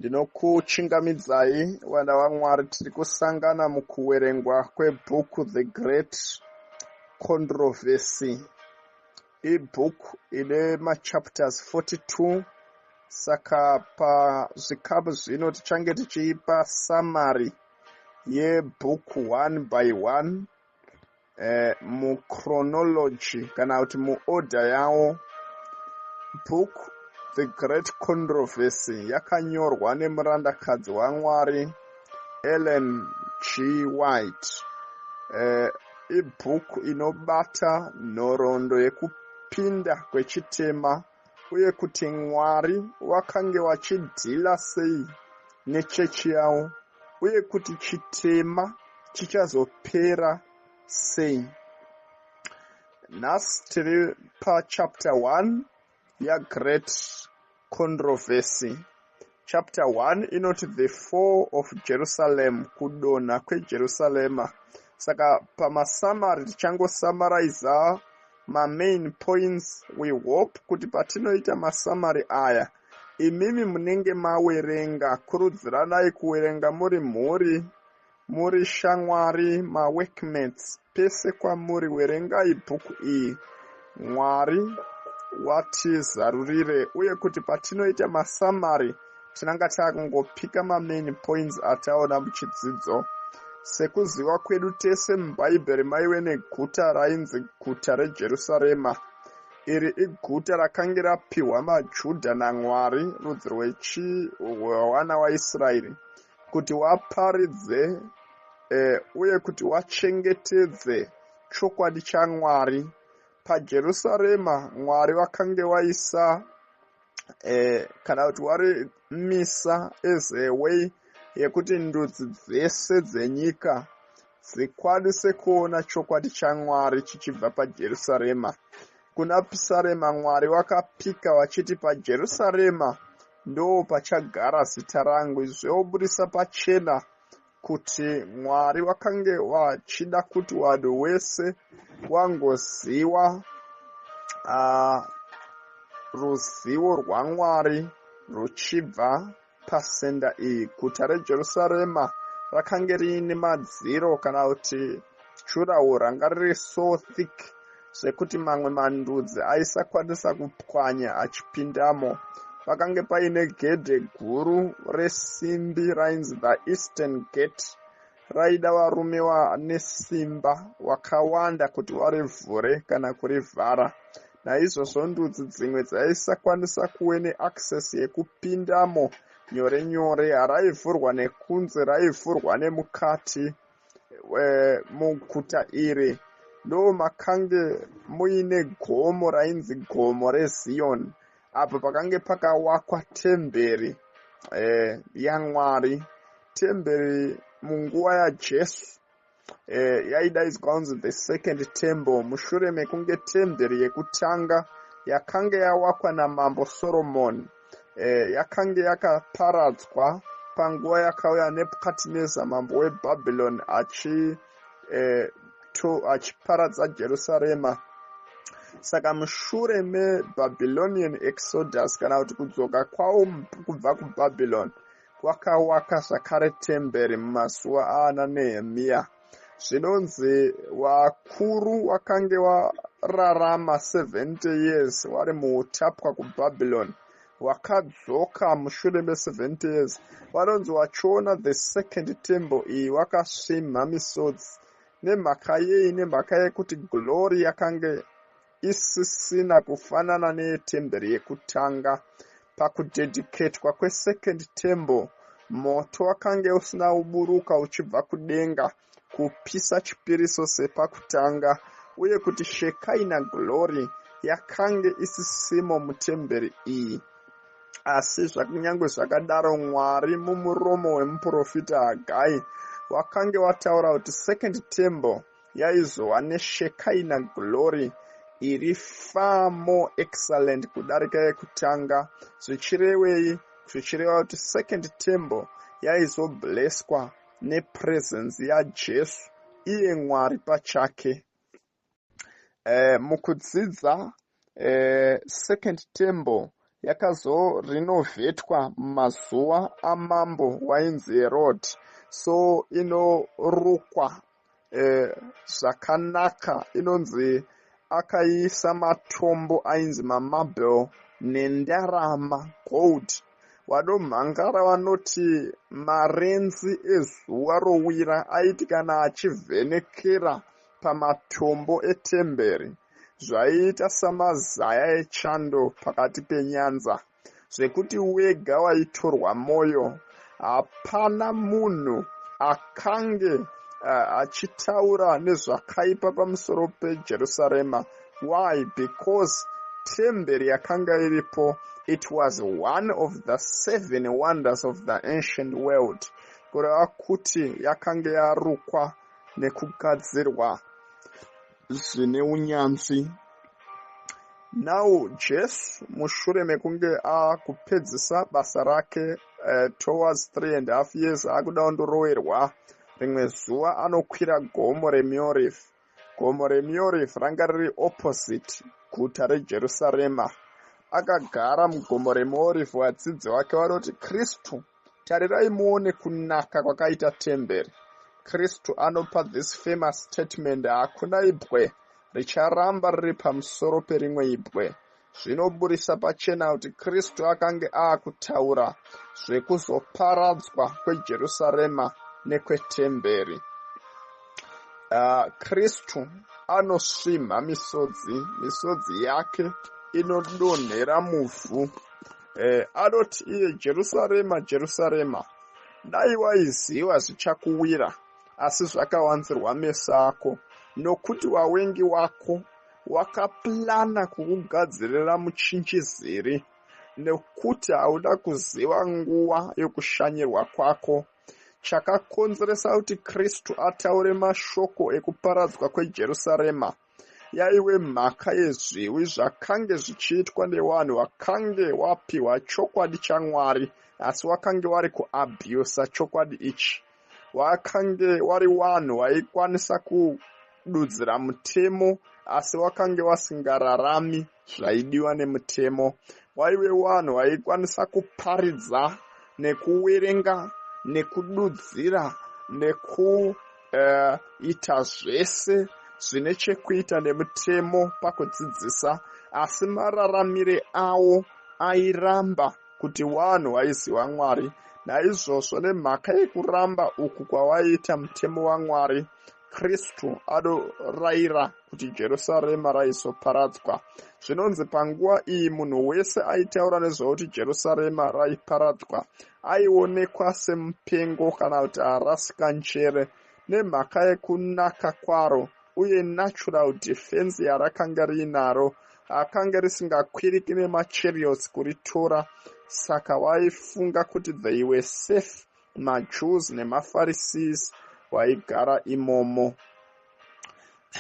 ndinokuchingamidzai vana vamwari tiri kusangana mukuverengwa kwebhuku the great controversy ibhuku ine machapters 42 saka pazvikamu zvino tichange tichiipa samary yebhuku one by one eh, muchronology kana kuti muorder yawo book the great controversy yakanyorwa nemurandakadzi wamwari ellen g white eh, ibhuku inobata nhoroondo yekupinda kwechitema uye kuti Mwari wakange wachidhila sei nechechi yawo uye kuti chitema chichazopera sei. Nhasi tiri pachapter 1 yaGreat Controversy. chapter 1 inoti the fall of jerusalem kudonha kwejerusarema saka pamasamari tichangosamaraiza mamain points we hope kuti patinoita masamari aya imimi munenge mawerenga kurudziranai kuwerenga muri mhuri Muri shamwari maworkmates pese kwamuri werengai bhuku iyi Mwari watizarurire uye kuti patinoita masamari tinanga takungopika mamain points ataona muchidzidzo sekuziva kwedu tese mubhaibheri maive neguta rainzi guta rejerusarema iri iguta rakange rapiwa majudha namwari rudzi rwechiwana waisraeri kuti waparidze eh, uye kuti wachengetedze chokwadi chamwari pajerusarema mwari vakange waisa eh, kana kuti wari misa as a way yekuti ndudzi dzese dzenyika Zvikwadi sekuona chokwadi chaMwari chichibva paJerusarema. Kuna Pisarema Mwari wakapika wachiti paJerusarema ndoo pachagara zita rangu izvo wobudisa pachena kuti Mwari wakange wachida kuti wanhu wese wangoziwa uh, ruzivo rwaMwari ruchibva Pasenda iyi, guta reJerusarema rakange riine madziro kana kuti jurawo ranga riri so thick zvekuti mamwe mandudzi aisakwanisa kupwanya achipindamo. Pakange paine gedhe guru resimbi rainzi the Eastern Gate raida varume vane simba wakawanda kuti warivhure kana kurivhara naizvozvo ndudzi dzimwe dzaisakwanisa kuve neaccess yekupindamo nyore nyore haraivhurwa nekunze raivhurwa nemukati e, muguta iri ndo makange muine gomo rainzi gomo reziyoni apo pakange pakawakwa temberi eh, yamwari temberi munguva yajesu eh, yaidaidzwa kunzi the second temple mushure mekunge temberi yekutanga yakange yawakwa namambo soromoni eh, yakange yakaparadzwa panguva yakauya nebukadnezar mambo webhabhiloni achii eh, achiparadza jerusarema saka mushure mebabylonian exodus kana kuti kudzoka kwawo kubva kubabylon kwakawaka zvakare temberi mumazuva aana nehemiya zvinonzi vakuru wakange wararama 70 years wari muutapwa kubabylon wakadzoka mushure me70 years vanonzi wachiona the second tembo iyi wakasvimha misodzi nemhaka yei nemhaka yekuti glory yakange isisina kufanana neyetemberi yekutanga pakudedicatwa kwesecond tembo moto wakange usina uburuka uchibva kudenga kupisa chipiriso sepakutanga uye kuti shekaina glory yakange isisimo mutemberi iyi asi zvakunyange zvakadaro mwari mumuromo wemuprofita hagai wakange wataura kuti second temple yaizova neshekaina glory iri far more excellent kudarika yekutanga zvichirevei zvichireva kuti second temple yaizobleswa nepresence yajesu iye mwari pachake eh, mukudzidza eh, second temple yakazorinovetwa mumazuva amambo wainzi herod so inorukwa eh, zvakanaka inonzi akaisa matombo ainzi mamabel nendarama gold vanomhangara vanoti marenzi ezuva rowira aiti kana achivhenekera pamatombo etemberi zvaiita samazaya echando pakati penyanza zvekuti wega waitorwa mwoyo hapana munhu akange achitaura nezvakaipa pamusoro pejerusarema why because temberi yakanga iripo it was one of the seven wonders of the ancient world kureva kuti yakanga yarukwa nekugadzirwa zvine unyanzvi. Now Jesu mushure mekunge akupedzisa basa rake uh, towards three and half years akuda kundorowerwa rimwe zuva anokwira gomo remiorif gomo remiorif ranga riri opposite guta rejerusarema akagara mugomo remorifu vadzidzi vake vanoti kristu Tarirai muone kunaka kwakaita temberi. Kristu anopa this famous statement hakuna ibwe richaramba riri pamusoro perimwe ibwe. Zvinoburisa pachena kuti Kristu akange aakutaura zvekuzoparadzwa kweJerusarema nekwetemberi. Uh, Kristu anosvimha misodzi, misodzi yake inodonhera muvhu Eh, anoti iye Jerusarema, Jerusarema, dai waiziva zvichakuwira, asi zvakawanzirwa meso ako, nokuti wawengi wako wakaplana kukugadzirira muchinjiziri, nekuti hauda kuziva nguva yokushanyirwa kwako. Chakakonzeresa kuti Kristu ataure mashoko ekuparadzwa kweJerusarema yaive mhaka yezviwi zvakange zvichiitwa nevanhu vakange wapiwa chokwadi chamwari asi wakange wari kuabhusa chokwadi ichi wakange wari vanhu vaikwanisa kududzira mutemo asi wakange wasingararami zvaidiwa nemutemo waive wanhu waikwanisa kuparidza nekuwerenga nekududzira nekuita eh, uh, zvese zvine chekuita nemutemo pakudzidzisa asi mararamire awo airamba kuti wanhu waiziva mwari naizvozvo nemhaka yekuramba uku kwawaiita mutemo wamwari Kristu adorayira kuti Jerusarema raizoparadzwa. Zvinonzi panguva iyi munhu wese aitaura nezvekuti Jerusarema raiparadzwa aionekwa semupengo kana kuti arasika njere nemhaka yekunaka kwaro uye natural defense yarakanga riinaro akanga risingakwiriki nemachariots kuritora saka vaifunga kuti they were safe majews nemapharisees waigara imomo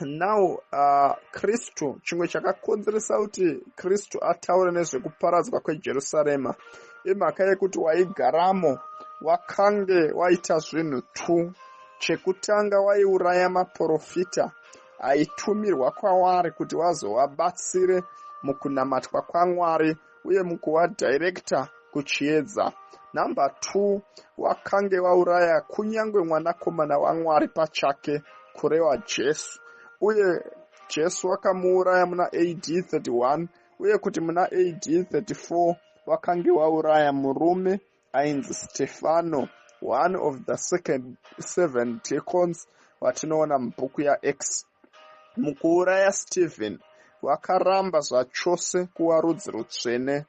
now uh, kristu uh, chimwe chakakonzeresa kuti kristu ataure nezvekuparadzwa kwejerusarema imhaka yekuti waigaramo wakange waita zvinhu two chekutanga waiuraya maprofita aitumirwa kwavari kuti vazovabatsire mukunamatwa kwamwari uye mukuva director kuchiedza number two wakange wauraya kunyange mwanakomana wamwari pachake kurewa jesu uye jesu wakamuuraya muna ad 31 uye kuti muna ad 34 wakange wauraya murume Ainzi Stefano, one of the second seven deacons vatinoona mubhuku yaActs. Mukuuraya Stephen, vakaramba zvachose kuva rudzi rutsvene.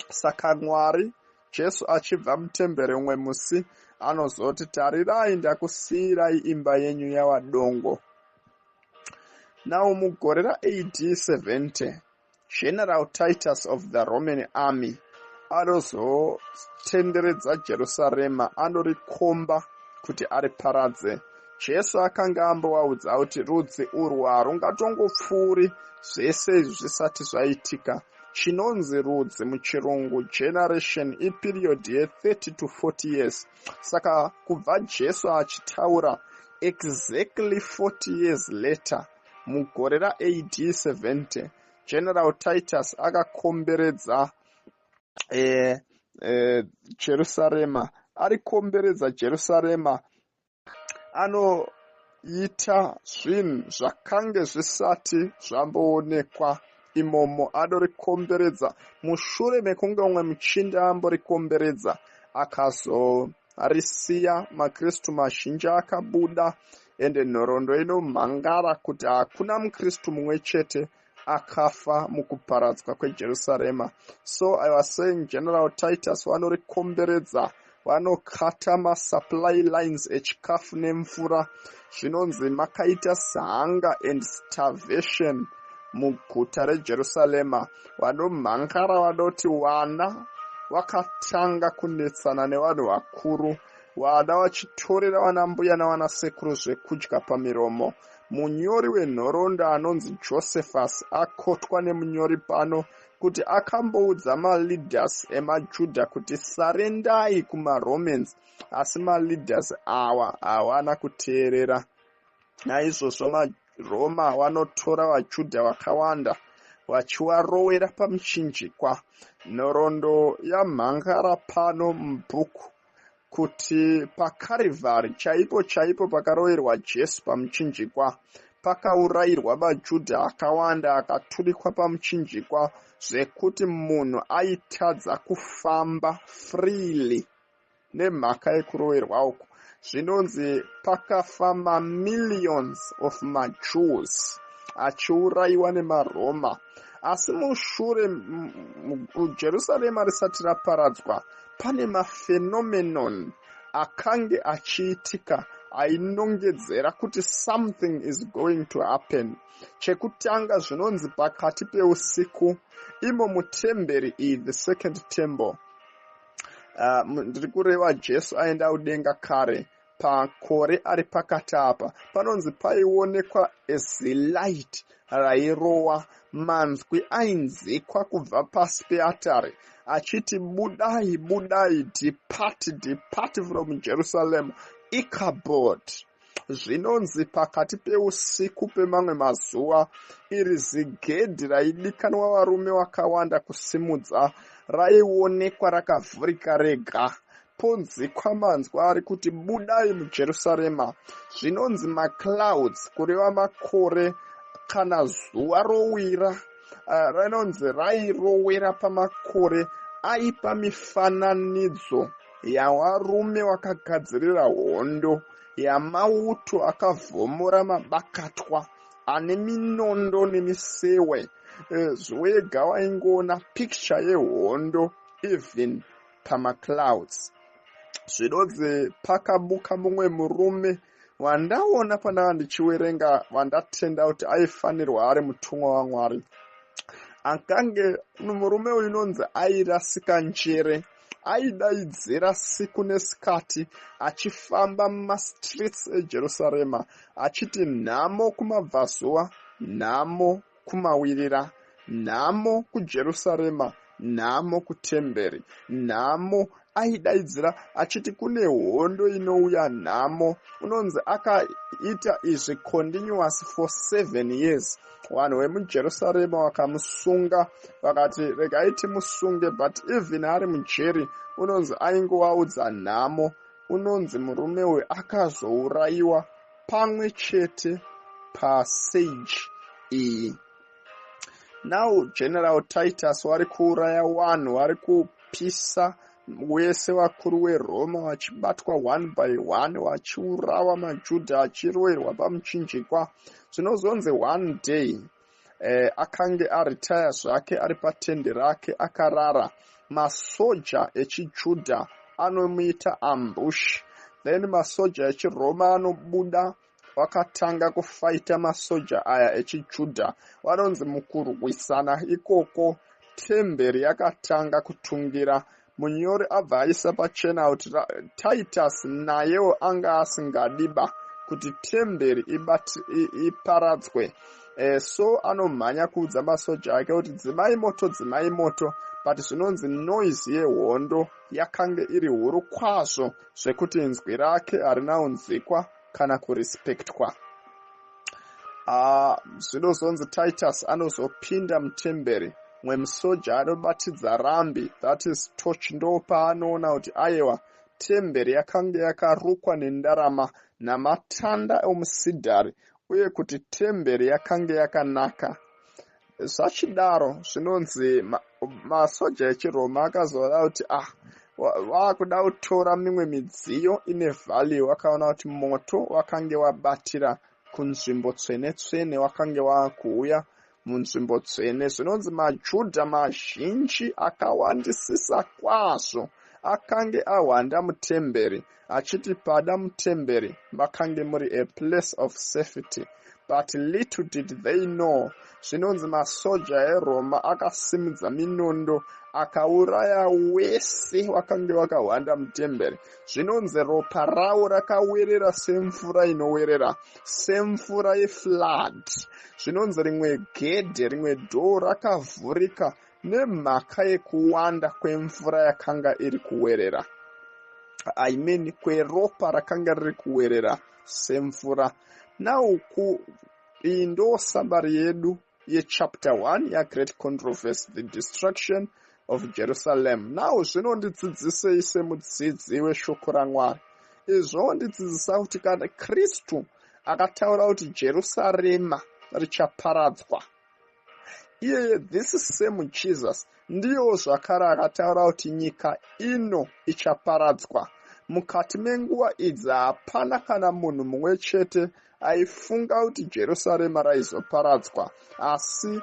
Saka Mwari, Jesu achibva mutembere umwe musi, anozoti, Tarirai, ndakusiyirai imba yenyu yava dongo. Now mugore raAD 70, General Titus of the Roman Army anozotenderedza Jerusarema anorikomba kuti ariparadze. Jesu akanga ambovaudza kuti rudzi urwu harungatongopfuuri zvese izvi zvisati zvaitika. Chinonzi rudzi muchirungu generation ipiriyodhi ye30 to 40 years. Saka kubva Jesu achitaura exactly 40 years later, mugore ra AD 70 General Titus akakomberedza eh, eh, Jerusarema arikomberedza Jerusarema anoita zvinhu zvakange zvisati zvamboonekwa imomo adorikomberedza mushure mekunge umwe muchinda amborikomberedza akazoita arisiya makristu mazhinji akabuda ende nhoroondo inomhangara kuti hakuna mukristu mumwe chete akafa mukuparadzwa kwejerusarema so i was saying general titus vanorikomberedza vanokata masupply lines echikafu nemvura zvinonzi makaita sihanga and starvation muguta rejerusarema vanomhangara vanoti wana vakatanga kunetsana nevanhu vakuru vana vachitorera vanambuya navanasekuru zvekudya pamiromo munyori wenhoroondo anonzi josephus akotwa nemunyori pano kuti akamboudza maleaders emajuda kuti sarendai kumaromans asi maleaders awa hawana kuteerera naizvozvo maroma wanotora vajudha vakawanda vachiwarowera pamuchinjikwa nhoroondo yamhangara pano mubhuku kuti pakarivari chaipo chaipo pakaroverwa jesu pamuchinjikwa pakaurayirwa vajudha akawanda akaturikwa pamuchinjikwa zvekuti munhu aitadza kufamba freely nemhaka yekuroverwa uku zvinonzi pakafa mamillions of majews achiurayiwa nemaroma asi mushure jerusarema risati raparadzwa pane maphenomenon akange achiitika ainongedzera kuti something is going to happen chekutanga zvinonzi pakati peusiku imo mutemberi iyi the second temple Ah, ndiri uh, kureva jesu aenda kudenga kare pakore ari pakati apa panonzi paionekwa as a light rairowa manzwi ainzikwa kubva pasi peatari achiti budai budai depart depart from jerusalem icabod zvinonzi pakati peusiku pemamwe mazuva iri zigedhi raidikanwa varume vakawanda kusimudza raionekwa rakavhurika rega ponzikwa manzwa ari kuti budai mujerusarema zvinonzi maclouds kureva makore kana zuva rowira eh, rinonzi rairowera pamakore aipa mifananidzo yawarume wakagadzirira hondo yamauto akavhomora mabakatwa ane minondo nemisewe eh, zvoega waingoona picture yehondo even pamaclouds zvidodze pakabuka mumwe murume wandaona pandava ndichiwerenga vandatenda kuti aifanirwa ari mutumwa wamwari akange murume uyu unonzi airasika njere aidaidzira siku nesikati achifamba mumastreets ejerusarema achiti nhamo kumabvazuva nhamo kumawirira nhamo kujerusarema nhamo kutemberi nhamo aidaidzira achiti kune hondo inouya nhamo unonzi akaita izvi continuous for seven years vanhu vemujerusarema vakamusunga vakati regai timusunge but even ari mujeri unonzi aingovaudza nhamo unonzi murume uyu akazourayiwa pamwe chete pasage iyi now general titus vari kuuraya wanhu vari kupisa wese vakuru weroma vachibatwa one by one vachiurawa majudha achiroerwa pamuchinjikwa zvinozonzi one day eh, akange aritaya zvake ari patende rake akarara masoja echijudha anomuita ambush then masoja echiroma anobuda wakatanga kufaita masoja aya echijudha vanonzi mukurwisana ikoko temberi yakatanga kutungira munyori abva aisa pachena kuti titus nayewo anga asingadiba kuti temberi iparadzwe ibat, e, so anomhanya kuudza masoja ake kuti dzimai moto dzimai moto but zvinonzi noise yehondo yakange iri huru kwazvo zvekuti inzwi rake harina unzwikwa kana kurespectwa ah, zvinozonzi uh, titus anozopinda mutemberi mwe musoja anobatidza rambi that is toch ndo paanoona kuti ayewa temberi yakanga yakarukwa nendarama namatanda omusidhari uye kuti temberi yakanga yakanaka zvachidaro zvinonzi masoja ma echiroma akazoona kuti ah waakuda kutora mimwe midziyo ine value wakaona kuti moto wakange wabatira kunzvimbo tsvene tsvene wakange waakuuya munzvimbo tsvene zvinonzi majudha mazhinji akawandisisa kwazvo akange ahwanda mutemberi achiti pada mutemberi makange muri a place of safety but little did they know zvinonzi masoja eroma akasimudza minondo akauraya wese wakange wakahwanda mutemberi zvinonzi ropa ravo rakawerera semvura inowerera semvura yeflood zvinonzi rimwe gedhe rimwe dhoo rakavhurika Nemhaka yekuwanda kwemvura yakanga iri kuwerera, I mean kweropa rakanga riri kuwerera semvura. Nauku iyi ndo sambari yedu yechapter 1 yaGreat Controversy, The Destruction of Jerusalem. Now zvinondidzidzisei semudzidzi weshoko raMwari? Izvo ndidzidzisa kuti kana Kristu akataura kuti Jerusarema richaparadzwa iyeye this same jesus ndiyewo zvakare akataura kuti nyika ino ichaparadzwa mukati menguva idzi hapana kana munhu mumwe chete aifunga kuti jerusarema raizoparadzwa asi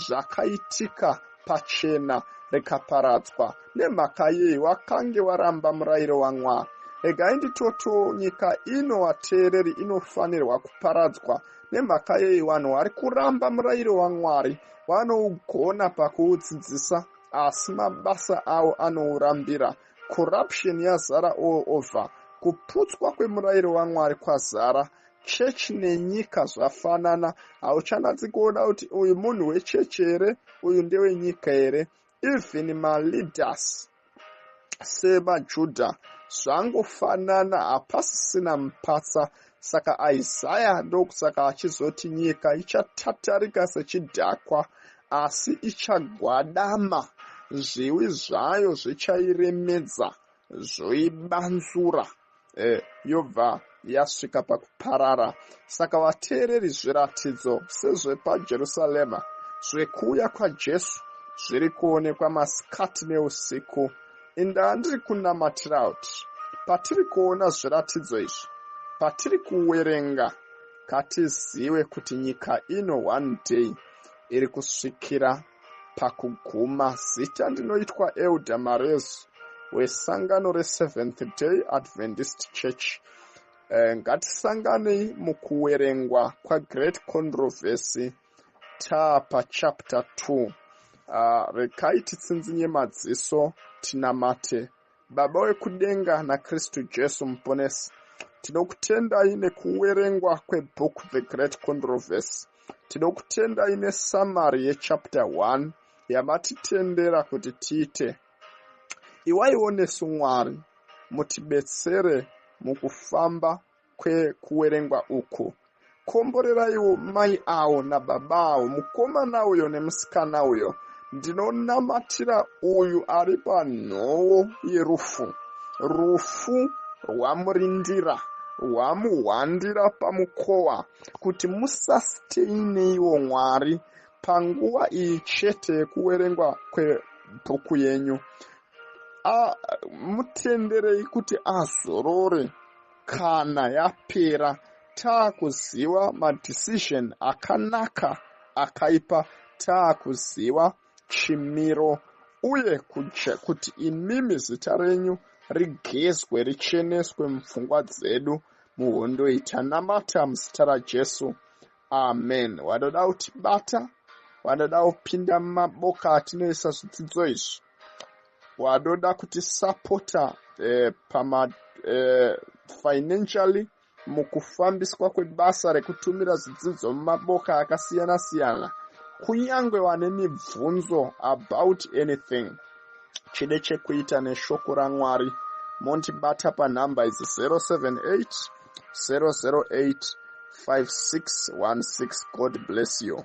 zvakaitika pachena rikaparadzwa nemhaka yei wakange waramba murayiro wamwari regai nditoto nyika ino vateereri inofanirwa kuparadzwa Nemhaka yei vanhu vari kuramba murayiro waMwari vanougona pakuudzidzisa asi mabasa avo anourambira? Corruption yazara all over. Kuputswa kwemurayiro waMwari kwazara. Chechi nenyika zvafanana. Hauchanatsi kuona kuti uyu munhu wechechi here, uyu ndewenyika here. even maleaders sevajudha zvangofanana hapasisina mupatsa saka isaya ndokusaka achizoti nyika ichatatarika sechidhakwa asi ichagwadama zviwi zvayo zvichairemedza zvoibanzura eh, yobva yasvika pakuparara saka vateereri zviratidzo sezvepajerusarema zvekuuya kwajesu zviri kuonekwa masikati neusiku indaa ndiri kunamatira kuti patiri kuona zviratidzo izvi patiri kuwerenga katizive kuti nyika ino one day iri kusvikira Pakuguma zita ndinoitwa Elder Marezu wesangano reSeventh Day Adventist Church. Eh, ngatisanganei mukuwerengwa kwaGreat Controversy taa pachapter 2. Ah, rekai titsinzinye madziso tinamate Baba wekudenga naKristu Jesu Muponesi, tinokutendai nekuwerengwa kwebhuku The Great Controversy. Tinokutendai nesamari yechapter 1 yamatitendera kuti tiite. Iwaiwo nesu Mwari, mutibetsere mukufamba kwekuwerengwa uku komboreraiwo mai awo nababa awo mukomana uyo nemusikana uyo ndinonamatira uyu ari panhowo yerufu rufu rwamurindira rwamuhwandira pamukowa kuti musasteineiwo mwari panguva iyi chete yekuwerengwa kwebhuku yenyu mutenderei kuti azorore kana yapera taakuziva madecision akanaka akaipa taakuziva chimiro uye kuje kuti imimi zita renyu rigezwe richeneswe mupfungwa dzedu muhondo iyi tanamata muzita rajesu amen wanoda kutibata wanoda kupinda mumaboka atinoisa zvidzidzo izvi wanoda kuti sapota eh, pama eh, financially mukufambiswa kwebasa rekutumira zvidzidzo mumaboka akasiyana siyana kunyange wane mibvunzo about anything chide chekuita neshoko ramwari mondibata panhamba idzi 078 008 5616 god bless you